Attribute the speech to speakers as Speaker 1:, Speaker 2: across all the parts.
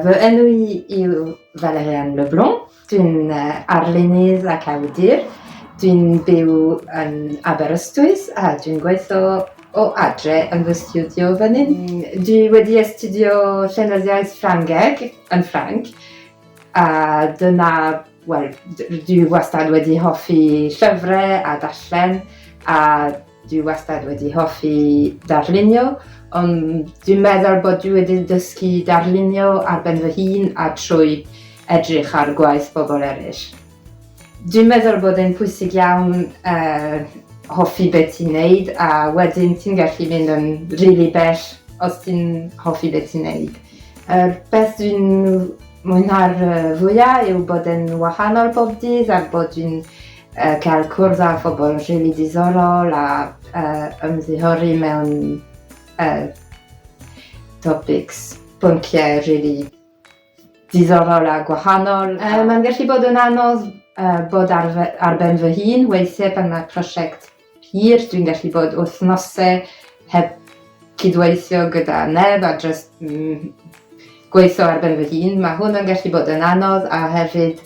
Speaker 1: Fy enw i yw Valerian Leblon, dwi'n arlunydd ac awdur. Dwi'n byw yn Aberystwyth a dwi'n gweithio o adre yn fy stiwdio fan hyn. Dwi wedi astudio llenyddiaeth Ffrangeg yn Ffrainc a dyna, wel, dwi wastad wedi hoffi llyfrau a darllen a Dwi wastad wedi hoffi darlunio, ond dwi'n meddwl bod dwi wedi dysgu darlunio ar ben fy hun a trwy edrych ar gwaith pobl eraill. Dwi'n meddwl bod e'n pwysig iawn uh, hoffi beth ti'n neud a wedyn ti'n gallu mynd yn rili really bell os ti'n hoffi beth ti'n neud. Yr er beth dwi'n mwynhau'r fwyaf yw bod yn wahanol bob dydd a bod dwi'n uh, cael cwrdd â phobl rili really diddorol a uh, ymddiheuri mewn uh, topics, pynciau rili really diddorol a gwahanol. Uh, Mae'n gallu bod yn anodd uh, bod ar, ar ben fy hun weithiau pan mae prosiect hir, dwi'n gallu bod wythnosau heb cydweithio gyda neb a dros mm, gweithio ar ben fy hun. Mae hwn yn gallu bod yn anodd a hefyd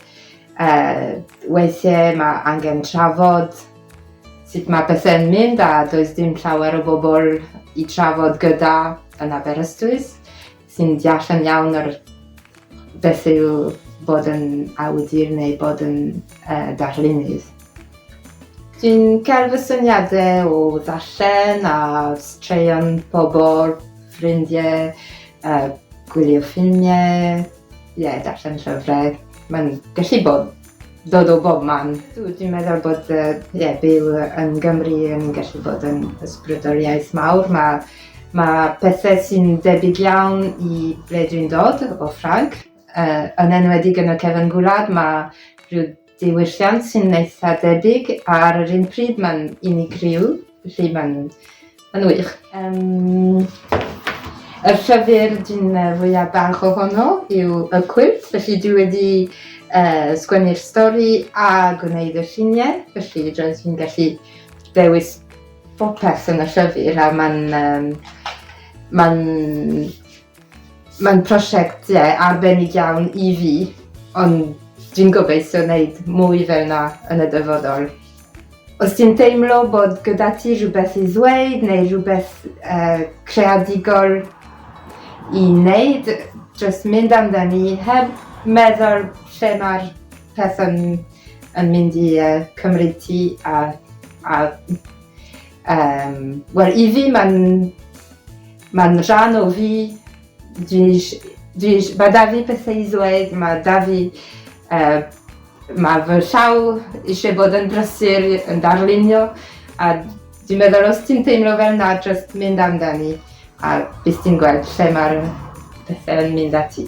Speaker 1: uh, weithiau mae angen trafod sut mae bethau'n mynd a does dim llawer o bobl i trafod gyda yn Aberystwyth. sy'n deall yn iawn yr beth yw bod yn awdur neu bod yn uh, darlunydd. Dwi'n cael fy syniadau o ddarllen a straeon pobl, ffrindiau, uh, gwylio ffilmiau, ie, yeah, darllen llyfrau. Mae'n gallu bod dod o bob man. Dwi dwi'n meddwl bod yy ie byw yn Gymru yn gallu bod yn ysbrydoliaeth mawr ma' ma' pethe sy'n debyg iawn i ble dwi'n dod o Ffrangc yy yn enwedig yn y cefyn gwlad ma' rhyw diwylliant sy'n eitha debyg ar yr un pryd ma'n unigryw felly ma'n Yn wych. Um, y llyfr dwi'n fwyaf bach ohono yw y cwilt, felly dwi wedi uh, sgwennu'r stori a gwneud y lluniau, felly roedd fi'n gallu dewis popeth yn y llyfr a mae'n um, mae'n Mae'n prosiect, ie, arbennig iawn i fi, ond dwi'n gobeithio wneud mwy fel yna yn y dyfodol. Os ti'n teimlo bod gyda ti rhywbeth i ddweud neu rhywbeth uh, creadigol i wneud, just mynd amdani heb meddwl lle mae'r peth yn, yn mynd i uh, cymryd ti a, a um, well, i fi mae'n Mae'n rhan o fi, mae 'da fi pethau i ddweud, mae 'da fi... mae fy llaw eisiau bod yn brysur yn darlunio a dwi'n meddwl os ti'n teimlo fel 'na jyst mynd amdani a bydd ti'n gweld lle mae'r pethau yn mynd â ti.